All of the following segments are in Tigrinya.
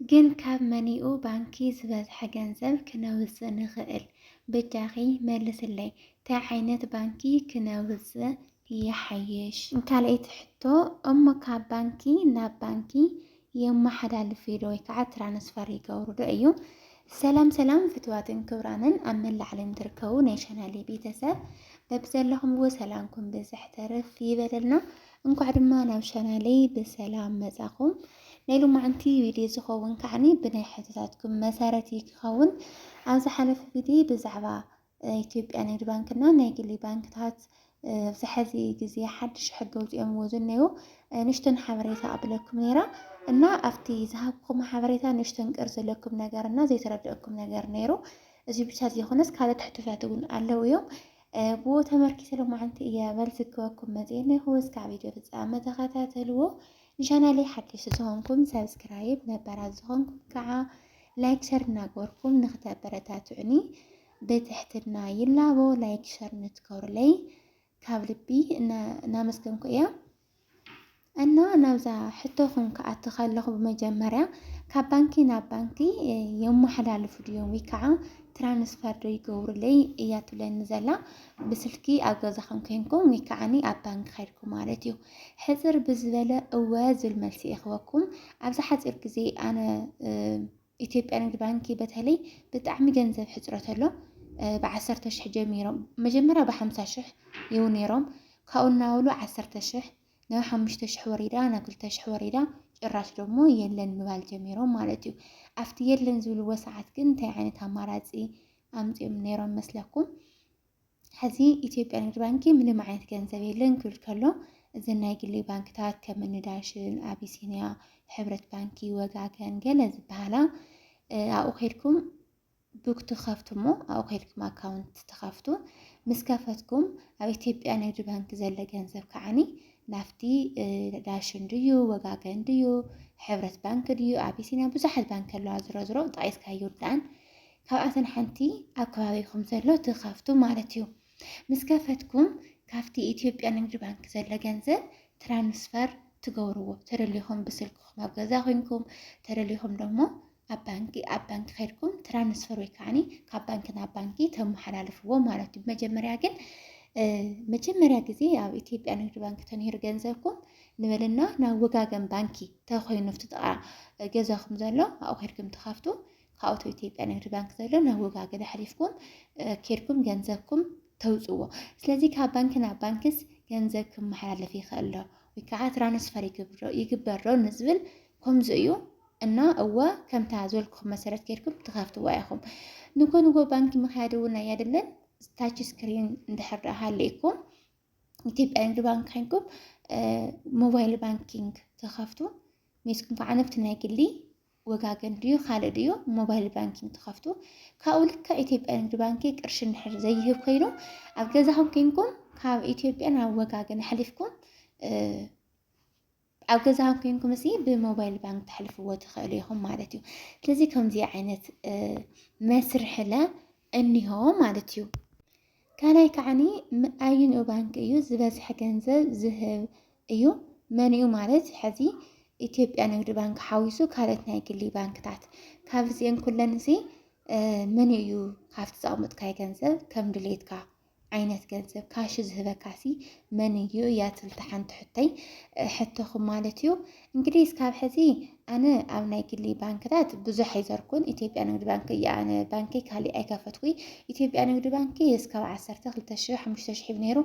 ግን ካብ መን'ዩ ባንኪ ዝበዝሐ ገንዘብ ክነውጽእ ንኽእል በጃኺ መልስለይ ታይ ዓይነት ባንኪ ክነውጽእ ይሓይሽ። ካልኣይቲ ሕቶ እሞ ካብ ባንኪ ናብ ባንኪ የመሓላልፍ'ዶ ወይ ከዓ ትራንስፈር ይገብሩ'ዶ እዩ? ሰላም ሰላም ፍትዋትን ክብራንን ኣብ መላእ ዓለም ትርከቡ ናይ ቻናሌ ቤተሰብ በብዘለኹምዎ ሰላምኩም ብዝሕ ተርፍ ይበለልና። እንኳዕ ድማ ናብ ቻናለይ ብሰላም መጻኹም። ናይ ሎማዓንቲ ቪድዮ ዝኸውን ከዓኒ ብናይ ሕቶታትኩም መሰረት እዩ ክኸውን። ኣብ ዝሓለፈ ቪድዮ ብዛዕባ ኢትዮጵያ ንግድ ባንክና ናይ ግሊ ባንክታት ኣብዚ ሕዚ ግዜ ሓድሽ ሕጊ ኣውፂኦምዎ ዝኔው ንሽቶን ሓበሬታ ኣብለኩም ነይራ እና ኣብቲ ዝሃብኩም ሓበሬታ ንሽቶን ቅር ዘለኩም ነገር እና ዘይተረድአኩም ነገር ነይሩ እዚ ብቻ ዘይኮነስ ካልኦት ሕቶታት እውን ኣለው እዮም ብኡ ተመርኪሰ ሎማዓንቲ እየ መልስክበኩም መፅየ እኒኹ እስካብ ቪድዮ ፍፃመ ተኸታተልዎ ንቻናለይ ሓደሽቲ ዝኾንኩም ሰብስክራይብ ነበራት ዝኾንኩም ከዓ ላይክ ሸር እናገበርኩም ንክተበረታትዑኒ ብትሕትና ይላቦ ላይክ ሸር ንትገሩለይ ካብ ልቢ እናመስገንኩ እያ እና ናብዛ ሕቶኹም ክኣቲ ከለኹ ብመጀመርያ ካብ ባንኪ ናብ ባንኪ የመሓላልፉ ድዮም ወይ ከዓ ትራንስፈር ዶ ይገብሩለይ እያ ትብለኒ ዘላ ብስልኪ ኣብ ገዛኹም ኮይንኩም ወይ ከዓኒ ኣብ ባንኪ ከድኩም ማለት እዩ ሕፅር ብዝበለ እወ ዝብል መልሲ ይኽበኩም ኣብዚ ሓፂር ግዜ ኣነ ኢትዮጵያ ንግድ ባንኪ በተለይ ብጣዕሚ ገንዘብ ሕፅረት ኣሎ ብዓሰርተ ሽሕ ጀሚሮም መጀመሪያ ብሓምሳ ሽሕ ይው ነይሮም ካብኡ እናበሉ ዓሰርተ ሽሕ ናብ ሓሙሽተ ሽሕ ወሪዳ ናብ ክልተ ሽሕ ወሪዳ ጭራሽ ደግሞ የለን ምባል ጀሚሮም ማለት እዩ ኣብቲ የለን ዝብልዎ ሰዓት ግን እንታይ ዓይነት ኣማራፂ ኣምፂኦም ነይሮም መስለኩም ሐዚ ኢትዮጵያ ንግድ ባንኪ ምንም ዓይነት ገንዘብ የለን ክብል ከሎ እዘን ናይ ግሊ ባንክታት ከም እኒ ዳሽን፣ ኣቢሲንያ፣ ሕብረት ባንኪ፣ ወጋገን ገለ ዝበሃላ ኣብኡ ከድኩም ቡክ ትኸፍቱ እሞ ኣብኡ ከድኩም ኣካውንት ትኸፍቱ ምስ ከፈትኩም ኣብ ኢትዮጵያ ንግድ ባንኪ ዘለ ገንዘብ ከዓኒ ናብቲ ዳሽን ድዩ ወጋገን ድዩ ሕብረት ባንኪ ድዩ ኣቢሲንያ ብዙሓት ባንኪ ኣለዋ ዝሮ ዝሮ ጠቒስካ ይርዳን ካብኣተን ሓንቲ ኣብ ከባቢኹም ዘሎ እቲ ካፍቱ ማለት እዩ ምስ ከፈትኩም ካብቲ ኢትዮጵያ ንግድ ባንክ ዘሎ ገንዘብ ትራንስፈር ትገብርዎ ተደሊኹም ብስልክኹም ኣብ ገዛ ኮንኩም ተደሊኹም ደሞ ኣብ ባንኪ ኣብ ባንኪ ከድኩም ትራንስፈር ወይ ከዓኒ ካብ ባንኪ ናብ ባንኪ ተመሓላልፍዎ ማለት እዩ። መጀመርያ ግን መጀመርያ ግዜ ኣብ ኢትዮጵያ ንግዲ ባንኪ ተነሂሩ ገንዘብኩም ንበለና ናብ ወጋገን ባንኪ ተኮይኑ ኣብቲ ጥቃ ገዛኹም ዘሎ ኣብኡ ከድኩም ትኸፍቱ ካብኡ እቲ ኢትዮጵያ ንግድ ባንክ ዘሎ ናብ ወጋገን ኣሕሊፍኩም ኬድኩም ገንዘብኩም ተውፅዎ ስለዚ ካብ ባንኪ ናብ ባንኪስ ገንዘብ ክመሓላለፍ ይኽእል ዶ ወይ ከዓ ትራንስፈር ይግበር ዶ ንዝብል ከምዚ እዩ እና እወ ከምታ ዝበልኩኹም መሰረት ኬድኩም ትኸፍትዋ ኢኹም ንጎ ንጎ ባንኪ ምክያድ እውን ኣያድልን ታች ስክሪን እንድሕር ደኣ ሃሊእኩም ኢትዮጵያ ንግዲ ባንክ ኮይንኩም ሞባይል ባንኪንግ ተኸፍቱ ሜስኩም ከዓ ነብቲ ናይ ግሊ ወጋገን ድዩ ካልእ ድዩ ሞባይል ባንኪንግ ትኸፍቱ ካብኡ ልክዕ ኢትዮጵያ ንግዲ ባንኪ ቅርሺ እንድሕር ዘይህብ ኮይኑ ኣብ ገዛኹም ኮይንኩም ካብ ኢትዮጵያ ናብ ወጋገን ኣሕሊፍኩም ኣብ ገዛኹም ኮይንኩም እዚ ብሞባይል ባንክ ተሕልፍዎ ትኽእሉ ኢኹም ማለት እዩ። ስለዚ ከምዚ ዓይነት መስርሕለ እኒሆ ማለት እዩ። ካልኣይ ከዓኒ ኣዩንኡ ባንኪ እዩ ዝበዝሐ ገንዘብ ዝህብ እዩ። መንኡ ማለት ሕዚ ኢትዮጵያ ንግዲ ባንክ ሓዊሱ ካልኦት ናይ ግሊ ባንክታት ካብ እዚአን ኩለን እዚ መን እዩ ካብቲ ዘቕምጥካይ ገንዘብ ከም ድሌትካ ዓይነት ገንዘብ ካሽ ዝህበካሲ መን እዩ እያ ትልቲ ሓንቲ ሕቶይ ሕቶኹም ማለት እዩ እንግዲህ እስካብ ሕዚ ኣነ ኣብ ናይ ግሊ ባንክታት ብዙሕ ኣይዘርኩን ኢትዮጵያ ንግዲ ባንኪ እያ ኣነ ባንኪ ካሊእ ኣይከፈትኩይ ኢትዮጵያ ንግዲ ባንኪ እስካብ ዓሰርተ ክልተ ሽሕ ሓሙሽተ ሽሕ ነይሩ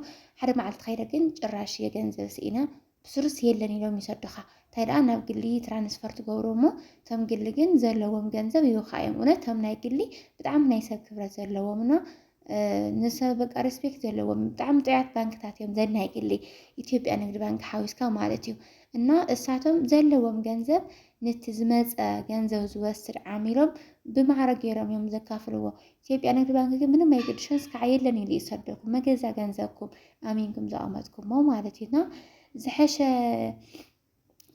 ሓደ መዓልቲ ከይደ ግን ጭራሽ የገንዘብ ስኢና ብስሩስ የለን ኢሎም ይሰዱኻ እንታይ ደኣ ናብ ግሊ ትራንስፈር ትገብሮ እሞ እቶም ግሊ ግን ዘለዎም ገንዘብ ይውካ እዮም እውነት እቶም ናይ ግሊ ብጣዕሚ ናይ ሰብ ክብረት ዘለዎም እና ንሰብ በቃ ሬስፔክት ዘለዎም ብጣዕሚ ጥዑያት ባንክታት እዮም ዘን ናይ ግሊ ኢትዮጵያ ንግድ ባንክ ሓዊስካ ማለት እዩ እና እሳቶም ዘለዎም ገንዘብ ነቲ ዝመፀ ገንዘብ ዝወስድ ዓሚሎም ብማዕረ ገይሮም እዮም ዘካፍልዎ ኢትዮጵያ ንግድ ባንክ ግን ምንም ኣይገድሾን ስካዕ የለን ኢሉ ይሰደኩም መገዛ ገንዘብኩም ኣሚንኩም ዘቐመጥኩሞ ማለት እዩ እና ዝሐሸ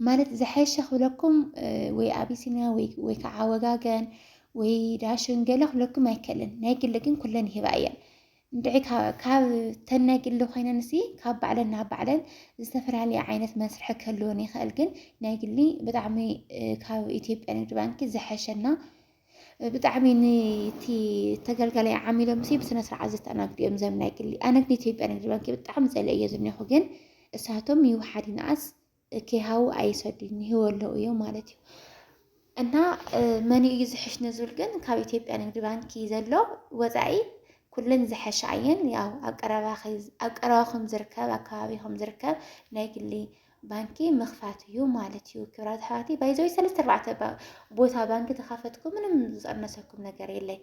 ማለት ዝሐሸ ክብለኩም ወይ ኣቢሲንያ ወይ ከዓ ወጋገን ወይ ዳሽን ገለ ክብለኩም ኣይከልን ናይ ግሊ ግን ኩለን ይህባ እየን እንድዒ ካብ ተን ናይ ግሊ ኮይነን ሲ ካብ ባዕለን ናብ ባዕለን ዝተፈላለየ ዓይነት መስርሒ ክህልወን ይኽእል ግን ናይ ግሊ ብጣዕሚ ካብ ኢትዮጵያ ንግዲ ባንኪ ዝሐሸና ብጣዕሚ ንቲ ተገልጋላይ ዓሚሎም ሲ ብስነ ስርዓት ዘተኣናግዱ እዮም ዘም ናይ ግሊ ኣነ ግን ኢትዮጵያ ንግድ ባንኪ ብጣዕሚ ጸለ እየ ዝኒኹ ግን እሳቶም ይውሓድ ይንኣስ ከይሃቡ ኣይሰዱን ይህወለው እዮም ማለት እዩ እና መን እዩ ዝሕሽ ንዝብል ግን ካብ ኢትዮጵያ ንግድ ባንኪ ዘሎ ወፃኢ ኩለን ዝሐሻ እየን ያው ኣብ ቀረባኹም ዝርከብ ኣብ ከባቢኹም ዝርከብ ናይ ግሊ ባንኪ ምኽፋት እዩ ማለት እዩ። ክብራት ኣሕዋተይ ባይዘወይ ሰለስተ ኣርባዕተ ቦታ ባንኪ ተኻፈትኩ ምንም ዝቐነሰኩም ነገር የለይ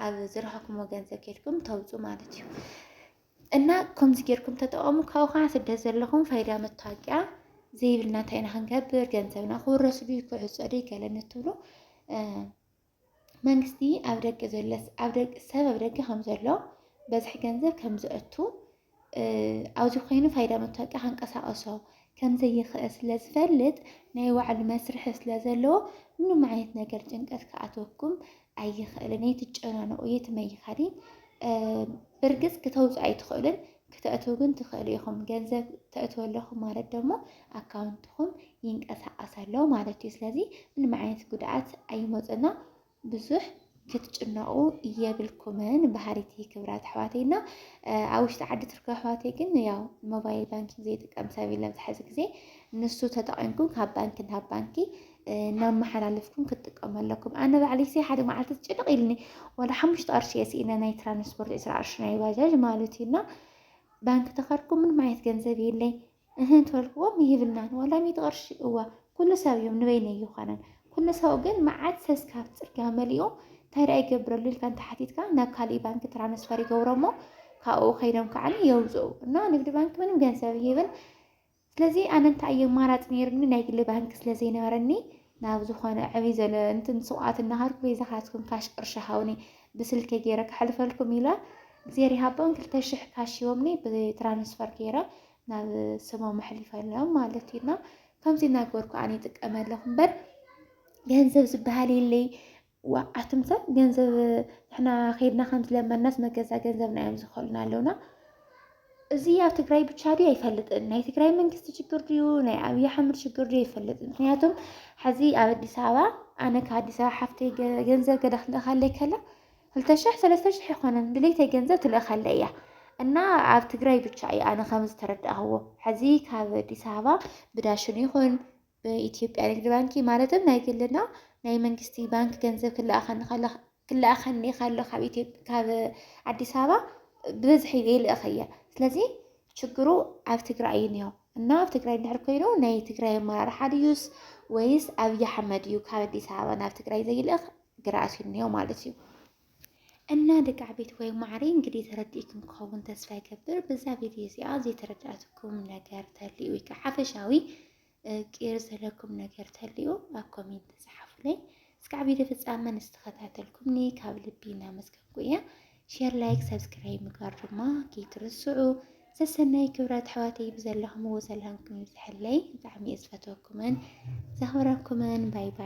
ኣብ ዝረኸኩምዎ ገንዘብ ኬድኩም ተውፁ ማለት እዩ እና ከምዚ ጌርኩም ተጠቐሙ ካብኡ ከዓ ስደት ዘለኹም ፋይዳ መታወቂያ ዘይብልና እንታይ ኢና ክንገብር ገንዘብና ክውረስ ድዩ ክዕፆ ድዩ ገለ ንትብሉ መንግስቲ ኣብ ደገ ዘሎ ሰብ ኣብ ደገ ከም ዘሎ በዝሒ ገንዘብ ከም ዘእቱ ኣብዚ ኮይኑ ፋይዳ መታወቂያ ከንቀሳቐሶ ከም ዘይኽእል ስለ ዝፈልጥ ናይ ባዕሉ መስርሒ ስለ ዘለዎ ምንም ዓይነት ነገር ጭንቀት ክኣትወኩም ኣይኽእልን። ኣይትጨናነቑ፣ የትም ኣይኻድን። ብርግፅ ክተውፅ ኣይትኽእልን፣ ክተእትው ግን ትኽእሉ ኢኹም። ገንዘብ ተእትው ኣለኹም ማለት ደግሞ ኣካውንትኹም ይንቀሳቐስ ኣሎ ማለት እዩ። ስለዚ ምንም ዓይነት ጉድኣት ኣይመፅና ብዙሕ ክትጭነቑ የብልኩምን ባህሪቲ ክብራት ኣሕዋተይ እና ኣብ ውሽጢ ዓዲ ትርከ ኣሕዋተይ ግን ያው ሞባይል ባንኪንግ ዘይጥቀም ሰብ የለን ዝሓዚ ግዜ ንሱ ተጠቒምኩም ካብ ባንኪ ናብ ባንኪ እናመሓላለፍኩም ክትጥቀሙ ኣለኩም ኣነ ባዕለይሰ ሓደ መዓልቲ ጭንቕ ኢልኒ ወላ ሓሙሽተ ቅርሺ እየ ስኢነ ናይ ትራንስፖርት ዕስራ ቅርሺ ናይ ባጃጅ ማለት እዩ እና ባንኪ ተኸርኩ ምንም ዓይነት ገንዘብ የለይ እህ እንተልክዎም ይህብልናን ወላ ሚእቲ ቅርሺ እዋ ኩሉ ሰብ እዮም ንበይነ ይኾነን ኩሉ ሰው ግን መዓት ሰስካብ ፅርግያ መሊኡ እንታይ ደኣ ይገብረሉ ኢልካ እንተሓቲትካ ናብ ካሊእ ባንኪ ትራንስፈር ይገብሮ እሞ ካብኡ ከይዶም ከዓ የውፅኡ እና ንግዲ ባንኪ ምንም ገንዘብ ይህብን ስለዚ ኣነ እንታይ እየ ኣማራፂ ነይሩኒ ናይ ግሊ ባንኪ ስለ ዘይነበረኒ ናብ ዝኾነ ዕብይ ዘለ እንትን ስውኣት እናሃርኩ በይዛኻትኩም ካሽ ቅርሺ ሃውኒ ብስልከ ገይረ ክሕልፈልኩም ኢለ እግዜር ይሃቦም ክልተ ሽሕ ካሽ ሂቦምኒ ብትራንስፈር ገይረ ናብ ስሞም ኣሕሊፈሎም ማለት እዩ እና ከምዚ እናገበርኩ ኣነ ይጥቀመ ኣለኹ እምበር ገንዘብ ዝበሃል የለይ ዋእ ኣቱም ሰብ ገንዘብ ንሕና ከይድና ከም ዝለመናስ መገዛ ገንዘብና እዮም ዝኸሉና ኣለውና። እዚ ኣብ ትግራይ ብቻ ድዩ ኣይፈልጥን። ናይ ትግራይ መንግስቲ ችግር ድዩ ናይ ኣብይ ኣሕመድ ችግር ድዩ ኣይፈልጥን። ምክንያቱም ሕዚ ኣብ ኣዲስ ኣበባ ኣነ ካብ ኣዲስ ኣበባ ሓፍተይ ገንዘብ ገዳ ክንልእካለይ ከላ ክልተ ሽሕ ሰለስተ ሽሕ ይኮነን ድሌተይ ገንዘብ ትልእካለይ እያ እና ኣብ ትግራይ ብቻ እዩ ኣነ ከም ዝተረዳእዎ ሕዚ ካብ ኣዲስ ኣበባ ብዳሽን ይኹን ብኢትዮጵያ ንግዲ ባንኪ ማለትም ናይ ግልና ናይ መንግስቲ ባንኪ ገንዘብ ክለኣኸኒ ከሎ ክለኣኸኒ ከሎ ካብ ኢትዮጵያ ካብ ኣዲስ ኣበባ ብብዝሒ ይልእኽ እየ ስለዚ ችግሩ ኣብ ትግራይ እዩ እኒኦ እና ኣብ ትግራይ እንድሕር ኮይኑ ናይ ትግራይ ኣመራርሓ ድዩስ ወይስ ኣብዪ ኣሕመድ እዩ ካብ ኣዲስ ኣበባ ናብ ትግራይ ዘይልእኽ ግራ ኣሲሩኒ ማለት እዩ። እና ደቂ ዓበይቲ ወይ ማዕሪ እንግዲህ ተረዲእኩም ክኸውን ተስፋ ይገብር። በዛ ቪድዮ እዚኣ ዘይተረዳእትኩም ነገር ተልዩ ወይ ከዓ ሓፈሻዊ ቅር ዘለኩም ነገር ተልዩ ኣብ ኮሜንት ተፅሓፉለይ። እስካዕ ቪድዮ ፍፃመ ንዝተኸታተልኩምኒ ካብ ልቢ እናመስገንኩ እየ። ሼር፣ ላይክ፣ ሰብስክራይብ ምግባር ድማ ከይትርስዑ። ሰሰናይ ክብረት ኣሕዋተይ ብዘለኹምዎ ዘለኹም ይብዝሐለይ። ብጣዕሚ እየ ዝፈትወኩምን ዘኽብረኩምን። ባይ ባይ።